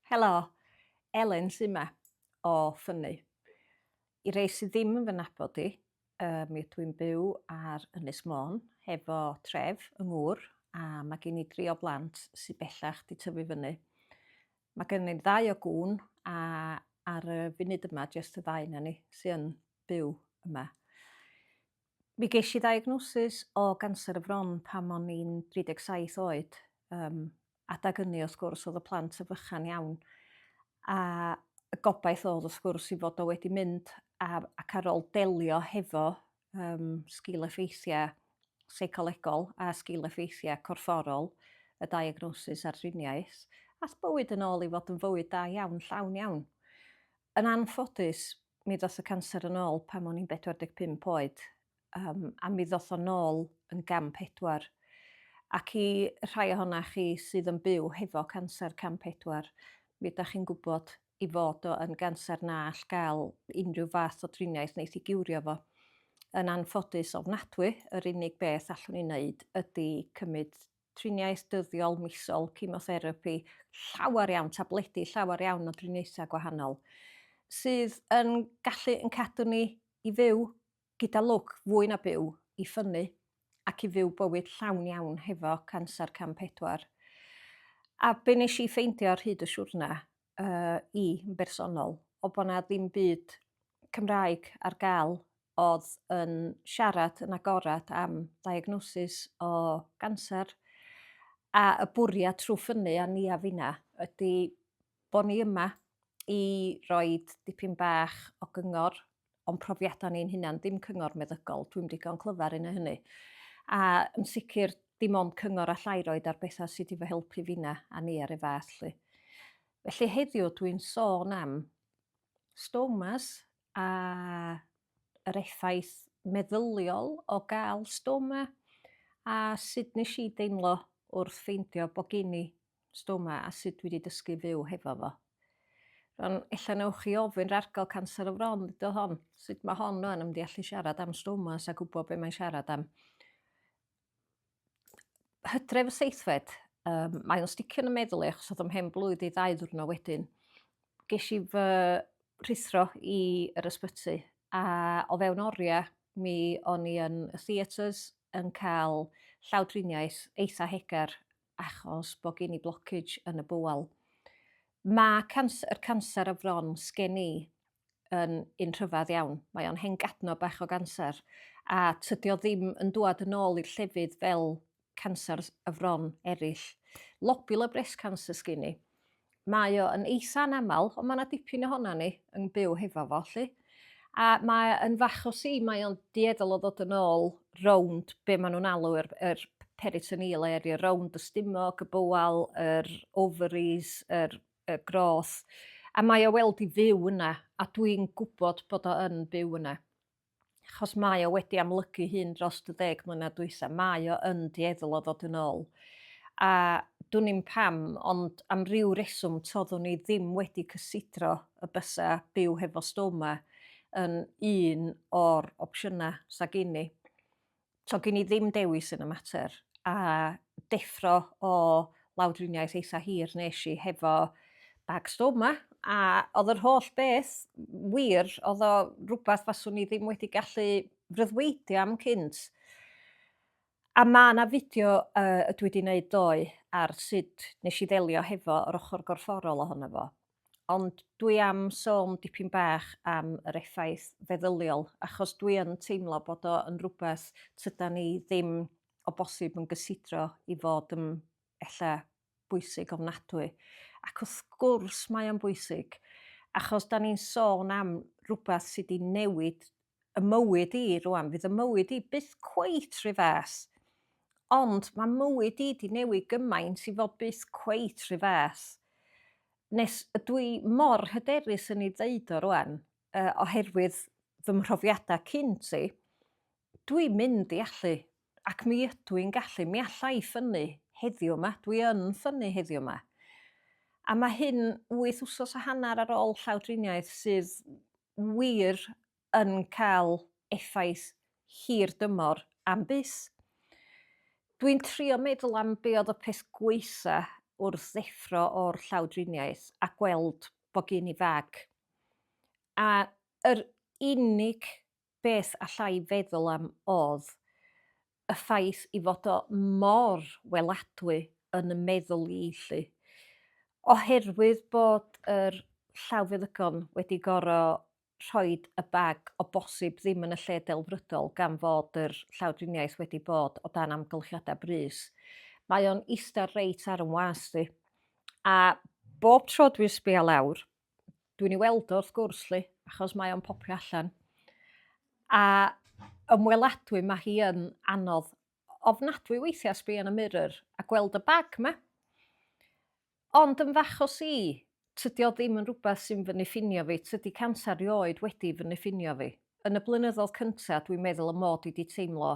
Helo! Elin sy 'ma, o Ffynnu. I rei sydd ddim yn fy nabod i, mi ydw i'n byw ar Ynys Môn hefo tref yng Ngŵr a mae gen i dri o blant sydd bellach 'di tyfu fyny. Mae gen i ddau o gŵn a ar y funud yma jest y ddau 'na ni sy yn byw yma. Mi gesh i ddiagnosis o ganser y fron pan o'n i'n 37 oed. Yym, adag ynny wrth gwrs o'dd y plant yn fychan iawn a y gobaith o'dd wrth gwrs 'i fod o wedi mynd a ac ar ôl delio hefo yym sgîl-effeithia' seicolegol a sgîl-effeithia' corfforol y diagnosis a'r driniaeth, ath bywyd yn ôl i fod yn fywyd da iawn, llawn iawn. Yn anffodus, mi ddoth y canser yn ôl pan o'n i'n 45 oed, um, a mi ddoth o'n ôl yn gam pedwar. Ac i rhai ohona chi sydd yn byw hefo canser cam pedwar, mi ydych chi'n gwybod i fod o yn ganser na all gael unrhyw fath o driniaeth wneud i giwrio fo. Yn anffodus ofnadwy, yr unig beth allwn ni wneud ydy cymryd triniaeth dyddiol misol, chemotherapi, llawer iawn tabledi, llawer iawn o driniaethau gwahanol, sydd yn gallu yn cadw ni i fyw gyda lwc fwy na byw, i ffynnu ac i fyw bywyd llawn iawn hefo canser cam pedwar. A be nes i ffeindio ar hyd y siwrna uh, i yn bersonol, o bod na ddim byd Cymraeg ar gael oedd yn siarad yn agored am diagnosis o ganser a y bwriad trwy ffynnu a ni a finna ydy bod ni yma i roi dipyn bach o gyngor o'n profiadau ni'n hunan, dim cyngor meddygol, dwi'm digon clyfar yn hynny. A yn sicr, dim ond cyngor allai roed ar bethau sydd wedi fy helpu finna a ni ar ei fath. Lly. Felly heddiw dwi'n sôn am stomas a yr effaith meddyliol o gael stoma a sut nes i deimlo wrth ffeindio bod gen i stoma a sut dwi wedi dysgu fyw hefo fo. Rwan, ella newch chi ofyn rargol canser y fron ydo hon, sut mae hon o'n ymdi allu siarad am stomas a gwybod beth mae'n siarad am. Hydref y seithfed, um, mae o'n sticio yn y meddwl i achos oedd o'n hen blwydd i ddau ddwrnod wedyn. Ges i fy rhithro i yr ysbyty a o fewn oriau mi o'n i yn y theatres yn cael llawdriniaeth eitha hegar achos bod gen i blockage yn y bowel. Mae cans, yr canser y fron sgen i yn un rhyfedd iawn. Mae o'n hen gadno bach o ganser a tydio ddim yn dwad yn ôl i'r llefydd fel canser y fron eraill. Lobular breast cancer sgyn i. Mae o yn eitha anaml, ond mae yna dipyn ohona ni yn byw hefo fo 'lly. A mae yn fach o si, mae o'n dueddol o ddod yn ôl rownd be' ma' nhw'n alw yr yr peritoneal area, rownd y stumog, y bowel, yr ovaries, yr y groth, a mae o weld i fyw yna, a dwi'n gwybod bod o yn byw yna. achos mae o wedi amlygu hun dros y deg mlynedd dwytha, mae o yn dueddol o ddod yn ôl. A dwn i'n pam, ond am ryw reswm toddwn i ddim wedi cysidro y bysa byw hefo stoma yn un o'r opsiynau sa gini. So gen i ddim dewis yn y mater a deffro o lawdriniaeth eitha hir nes i hefo bag stoma a oedd yr holl beth wir oedd o rhywbeth faswn i ddim wedi gallu freuddwydio am cynt. A mae yna fideo uh, dwi wedi gwneud ddoe ar sut nes i ddelio hefo yr ochr gorfforol ohono fo. Ond dwi am sôn dipyn bach am yr effaith feddyliol, achos dwi yn teimlo bod o yn rhywbeth tydan ni ddim o bosib yn gysidro i fod yn ella bwysig ofnadwy. Ac wrth gwrs mae o'n bwysig, achos da ni'n sôn am rhywbeth sydd wedi newid y mywyd i rwan, fydd y mywyd i byth cweit rhy fath. Ond mae mywyd i di newid gymaint i fod byth cweit rhy fath. Nes ydw i mor hyderus yn ei ddeud o rwan, uh, oherwydd fy mhrofiadau cynt i, dwi'n mynd i allu Ac mi ydw i'n gallu, mi alla i ffynnu heddiw yma, dwi yn ffynnu heddiw yma. A mae hyn wyth wsos a hanner ar ôl llawdriniaeth sydd wir yn cael effaith hir dymor am bys. Dwi'n trio meddwl am be oedd y peth gwaetha wrth ddeffro o'r llawdriniaeth a gweld bod gen i fag. A yr unig beth allai feddwl am oedd y ffaith i fod o mor weladwy yn y meddwl i 'lly. Oherwydd bod yr llawfeddygon wedi goro rhoid y bag o bosib ddim yn y lle delfrydol gan fod yr llawdriniaeth wedi bod o dan amgylchiadau brys. Mae o'n ista reit ar 'y ngwas i. A bob tro dwi'n sbio lawr, dwi'n ei weld o wrth gwrs 'lly achos mae o'n popio allan. A ymweladwy mae hi yn anodd ofnadwy weithiau sbio yn y mirror a gweld y bag 'ma. Ond yn fach o si, tydi o ddim yn rhywbeth sy'n fy niffinio fi, tydi canser rioed wedi fy niffinio fi. yn y blynyddoedd cyntaf, dwi'n meddwl y mod i 'di teimlo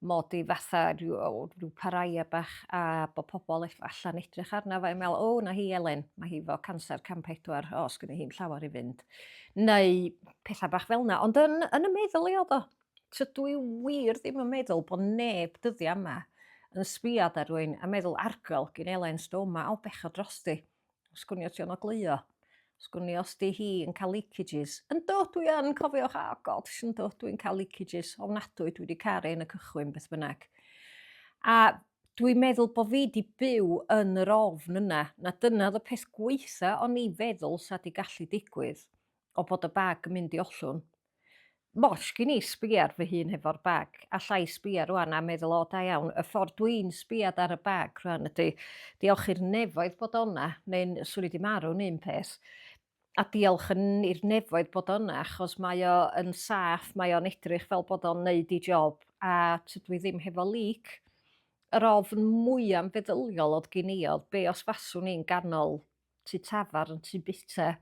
mod i fatha rhyw o rhyw paraia bach a bod pobl ell- allan edrych arna fo a me'wl o 'na hi Elen ma' hi 'fo canser cam pedwar o sgynno hi'm llawar i fynd. Neu petha bach fel 'na ond yn yn y meddwl i o'dd o. Tydw i wir ddim yn meddwl bo' neb dyddia' yma yn sbïo ar rywun a meddwl argol gin Elen Stoma o bechod drosti. Sgwnio ti o'n ogleuo. Sgwnio os di hi yn cael leakages. Yn do, dwi yn cofio, oh ah, god, yn do, dwi'n cael leakages. Ofnadwy, dwi wedi caru yn y cychwyn beth bynnag. A dwi'n meddwl bod fi wedi byw yn yr ofn yna, na dyna oedd y peth gweitha o'n i feddwl sa di gallu digwydd. o bod y bag yn mynd i ollwng. Mosh gin i sbio ar fy hun hefo'r bag, alla i sbio rwan a meddwl o da iawn, y ffordd dwi'n sbiad ar y bag rwan ydy, diolch i'r nefoedd bod o'na, neu'n swn i di marw'n un peth, a diolch yn i'r nefoedd bod o'na achos mae o yn saff, mae o'n edrych fel bod o'n neud i job a tydw i ddim hefo leak yr ofn mwyaf feddyliol oedd gen i oedd be os faswn i'n ganol tu tafar yn tu bita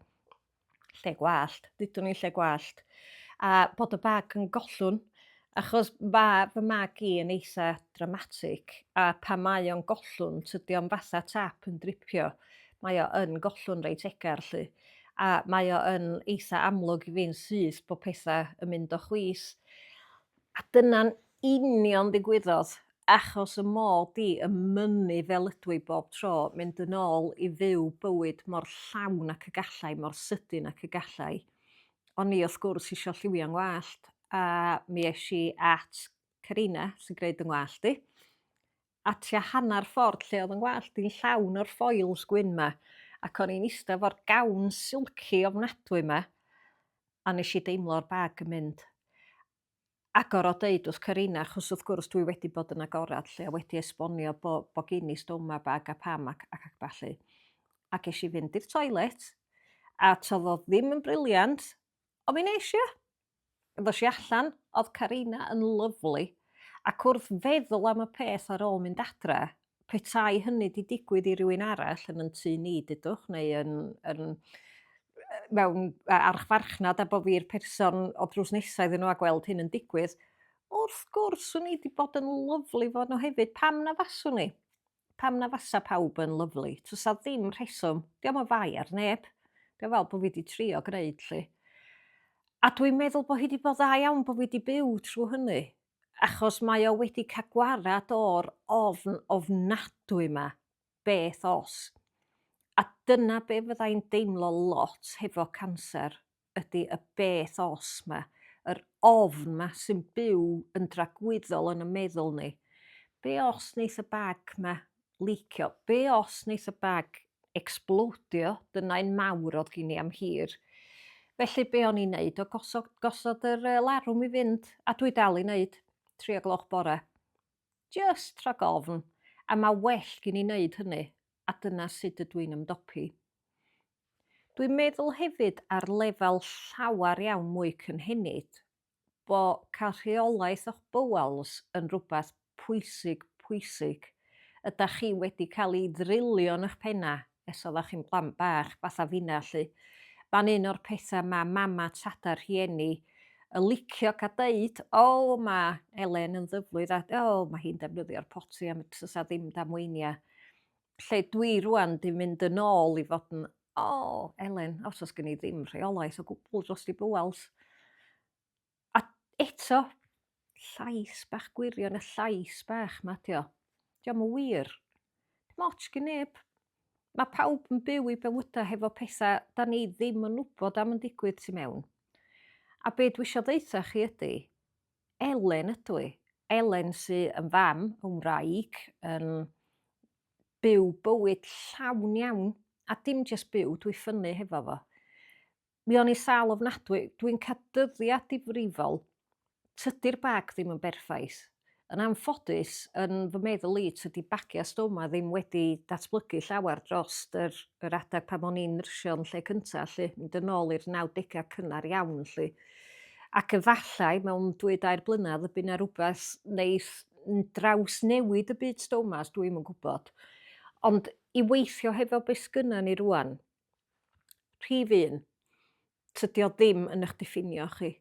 lle gwallt, dydwn i'n lle gwallt, a bod y bag yn gollwn, achos mae fy mag i yn eitha dramatic, a pa mae o'n gollwn, tydi o'n fatha tap yn dripio, mae o yn gollwn reit egar lly, a mae o yn eitha amlwg i fi'n syth bod pethau yn mynd o chwys. A dyna'n union ddigwyddodd achos y mod i yn mynnu fel ydwy bob tro mynd yn ôl i fyw bywyd mor llawn ac y gallai, mor sydyn ac y gallai. O'n i wrth gwrs isio lliwio 'ngwallt a mi es i at Carina sy'n gwneud 'y ngwallt i a tua hanner ffordd lle oedd 'y ngwallt i'n llawn o'r foils gwyn 'ma ac o'n i'n ista fo'r gawn silci ofnadwy 'ma a nes i deimlo'r bag yn mynd agor o deud wrth Carina achos wrth gwrs dwi wedi bod yn agored 'lly a wedi esbonio bo' bo' gin i stoma bag a pam ac ac ac ballu. A gesh i fynd i'r toilet a t'odd o ddim yn brilliant on' mi nesh i. Ddosh i allan o'dd Carina yn lyfli ac wrth feddwl am y peth ar ôl mynd adre Petai hynny 'di digwydd i rywun arall yn yn tŷ ni, dudwch, neu yn yn mewn archfarchnad a bo' fi'r person o drws nesa iddyn nhw a gweld hyn yn digwydd, wrth gwrs swn i 'di bod yn lyfli fo' nhw hefyd, pam na faswn i? Pam na fasa pawb yn lyfli? Does 'na ddim rheswm, dio'm yn fai ar neb. Dwi fel bod fi wedi trio gwneud 'lly. A dwi'n meddwl bod hi wedi bod dda iawn bod fi wedi byw trwy hynny. achos mae o wedi cael gwared o'r ofn ofnadwy 'ma, beth os? A dyna be' fydda i'n deimlo lot hefo canser ydi y beth os 'ma, yr ofn 'ma sy'n byw yn dragwyddol yn 'y meddwl ni. Be' os neith y bag 'ma licio be os neith y bag ecsblowdio dyna un mawr o'dd gin i am hir felly be o'n i'n neud o gosod gosod yr yy larwm i fynd a dwi dal i neud tri o gloch bore jyst rhag ofn a ma' well gin i neud hynny a dyna sud ydw i'n ymdopi. Dwi'n meddwl hefyd ar lefel llawer iawn mwy cynhenid bo cael rheolaeth o'ch bowels yn rwbath pwysig pwysig. Ydach chi wedi cael i ddrilio yn 'ych penna ers oddach chi'n blant bach fatha finna 'lly? Ma'n un o'r petha ma mama tada rhieni yn licio ca deud o ma Elen yn ddyflwydd a o ma hi'n defnyddio'r poti am y tsa ddim damweinia. lle dwi rwan 'di mynd yn ôl i fod yn o Elen os o's gen i ddim rheolaeth o gwbwl drost i bŵals. A eto llais bach gwirion y llais bach 'ma 'di o. 'Di o'm yn wir. Dim ots gin neb. Mae pawb yn byw i bywydau hefo pethau 'dan ni ddim yn wybod am yn digwydd tu mewn. A be' dwi isio ddeutha chi ydy Elen ydw i. Elen sy yn fam, yn wraig, yn byw bywyd llawn iawn, a dim jyst byw, dwi ffynnu hefo fo. Mi o'n i sal ofnadwy, dwi'n cael dyddiau difrifol, tydi'r bag ddim yn berffaith. Yn anffodus, yn fy meddwl i, tydi bagiau stoma ddim wedi datblygu llawer dros yr, yr adeg pan o'n i'n nyrsio'n lle cyntaf, lle, mynd yn ôl i'r 90au cynnar iawn, lle. Ac efallai mewn dwy dair blynedd y bydd 'na rhywbeth wneith drawsnewid y byd stomas, dwi ddim yn gwybod. Ond i weithio hefo beth sgynna ni rwan, rhif un, tydi o ddim yn eich diffinio chi.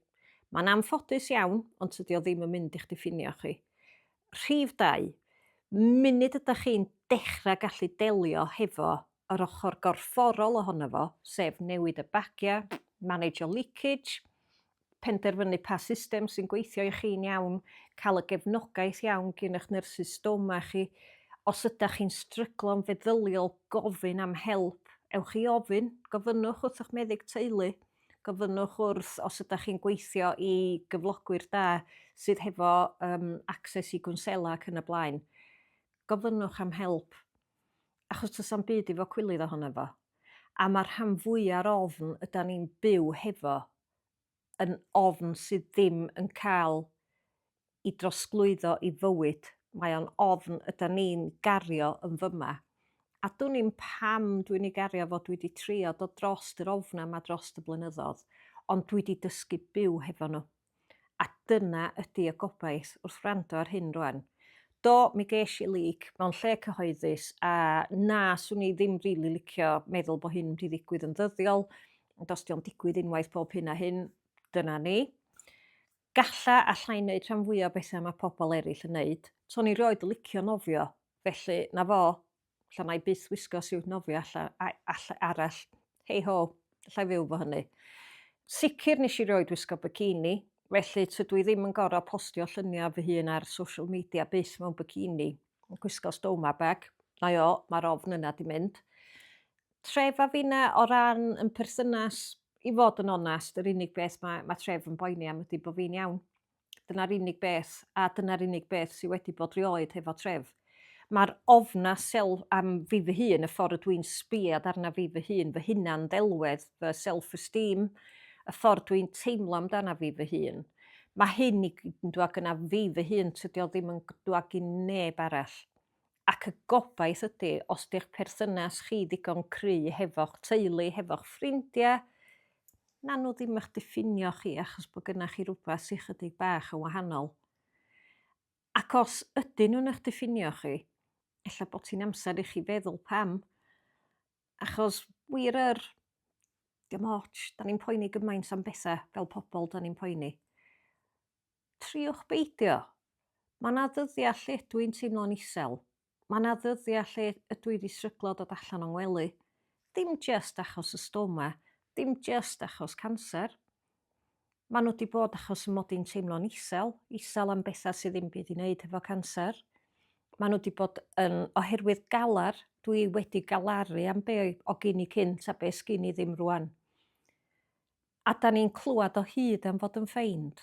Mae'n anffodus iawn, ond tydi o ddim yn mynd i'ch diffinio chi. Rhif dau, munud ydych chi'n dechrau gallu delio hefo yr ochr gorfforol ohono fo, sef newid y bagiau, manegio leakage, penderfynu pa system sy'n gweithio i chi'n iawn, cael y gefnogaeth iawn gin eich nyrsys stoma chi. Os ydych chi'n stryglo'n feddyliol, gofyn am help. Ewch i ofyn, gofynnwch wrth eich meddyg teulu, gofynnwch wrth os ydych chi'n gweithio i gyflogwyr da sydd hefo um, access i gwnsela ac yn y blaen. Gofynnwch am help. Achos does na'm byd i fod cwilydd ohono fo. A mae'r rhan fwya'r ofn ydan ni'n byw hefo yn ofn sydd ddim yn cael i drosglwyddo i fywyd. Mae o'n ofn ydan ni'n gario yn fyma. A dwn i'm pam dwi'n ei gario fo, dwi wedi trio dod drost yr ofnau yma drost y blynyddoedd, ond dwi wedi dysgu byw hefo nhw. A dyna ydi y gobaith wrth wrando ar hyn rwan. Do, mi gesh i leak mewn lle cyhoeddus a na, swn i ddim rili licio meddwl bo hyn wedi ddigwydd yn ddyddiol, ond os dio'n digwydd unwaith bob hyn a hyn, dyna ni. Galla allai wneud rhan fwya o bethau mae pobl eraill yn wneud. Swn i rioed licio nofio, felly na fo, Alla mae byth wisgo siwt nofio alla, alla arall. Hei ho, allai fyw fo hynny. Sicr nes i roed wisgo bikini, felly tydw i ddim yn gorau postio lluniau fy hun ar social media byth mewn bikini. Gwisgo stoma bag, na o, mae'r ofn yna di mynd. Tref a finna o ran yn perthynas, i fod yn onest, yr unig beth mae, mae tref yn boeni am ydy bod fi'n iawn. Dyna'r unig beth, a dyna'r unig beth sydd wedi bod rioed hefo tref. Mae'r ofna sel am fi fy hun, y ffordd ydw i'n sbiad arna fi fy hun, fy hunan ddelwedd, fy self-esteem, y ffordd dwi'n teimlo amdana fi fy hun. Mae hyn i gyd yn dwag yna fi fy hun, tydio ddim yn dwag i neb arall. ac y gobaith ydy os di'ch perthynas chi ddigon cry hefo'ch teulu, hefo'ch ffrindiau, na nhw ddim eich diffinio chi achos bod gynnach chi rhywbeth sy'n chydig bach yn wahanol. Ac os ydyn nhw'n eich diffinio chi, efallai bod ti'n amser i chi feddwl pam. Achos wir yr, dim ots, da ni'n poeni gymaint am bethau fel pobl, da ni'n poeni. Triwch beidio. Mae 'na ddyddiau lle ydw i'n teimlo'n isel. Mae 'na ddyddiau lle ydw i 'di stryglo dod allan o'n ngwely. Dim jyst achos y stoma, dim jyst achos canser. Maen nhw 'di bod achos y mod i'n teimlo'n isel, isel am bethau sydd ddim byd i wneud hefo canser. Maen nhw 'di bod yn oherwydd galar, dwi wedi galaru am be o gyn i cynt a be sgyn i ddim rwan. A 'dan ni'n clywed o hyd am fod yn ffeind,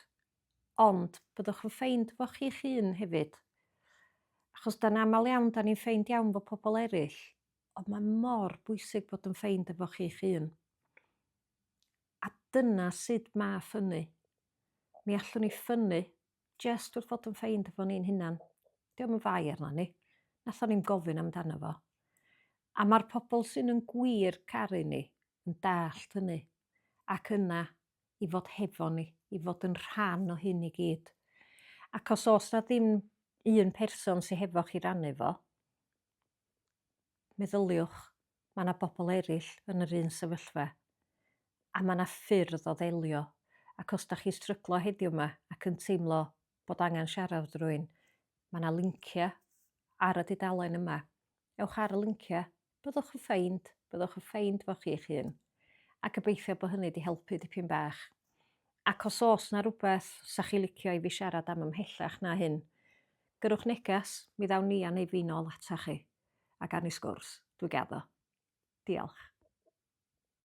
ond byddwch yn ffeind efo chi'ch hun hefyd. Achos 'dan aml iawn 'dan ni'n ffeind iawn efo pobl eraill, ond mae mor bwysig bod yn ffeind efo chi'ch hun. A dyna sut mae ffynnu. Mi allwn ni ffynnu jest wrth fod yn ffeind efo ni'n hunan. Diolch yn fai arno ni. Nathon ni'n gofyn amdano fo. A mae'r pobl sy'n yn gwir caru ni, yn dallt hynny, ac yna i fod hefo ni, i fod yn rhan o hyn i gyd. Ac os oes na ddim un person sy'n hefo chi rannu fo, meddyliwch, mae yna bobl eraill yn yr un sefyllfa, a mae yna ffyrdd o ddelio. Ac os da chi stryglo heddiw yma ac yn teimlo bod angen siarad drwy'n, mae yna linciau ar y dudalen yma. Ewch ar y linciau Byddwch yn ffeind, byddwch yn ffeind fo chi'ch hun. A gobeithio bo hynny 'di helpu dipyn bach. Ac os o's 'na rwbeth 'sa chi licio i fi siarad am ymhellach na hyn, gyrrwch neges, mi ddawn ni a neu fi'n ôl atoch chi, a gawn ni sgwrs. Dwi gaddo. Diolch.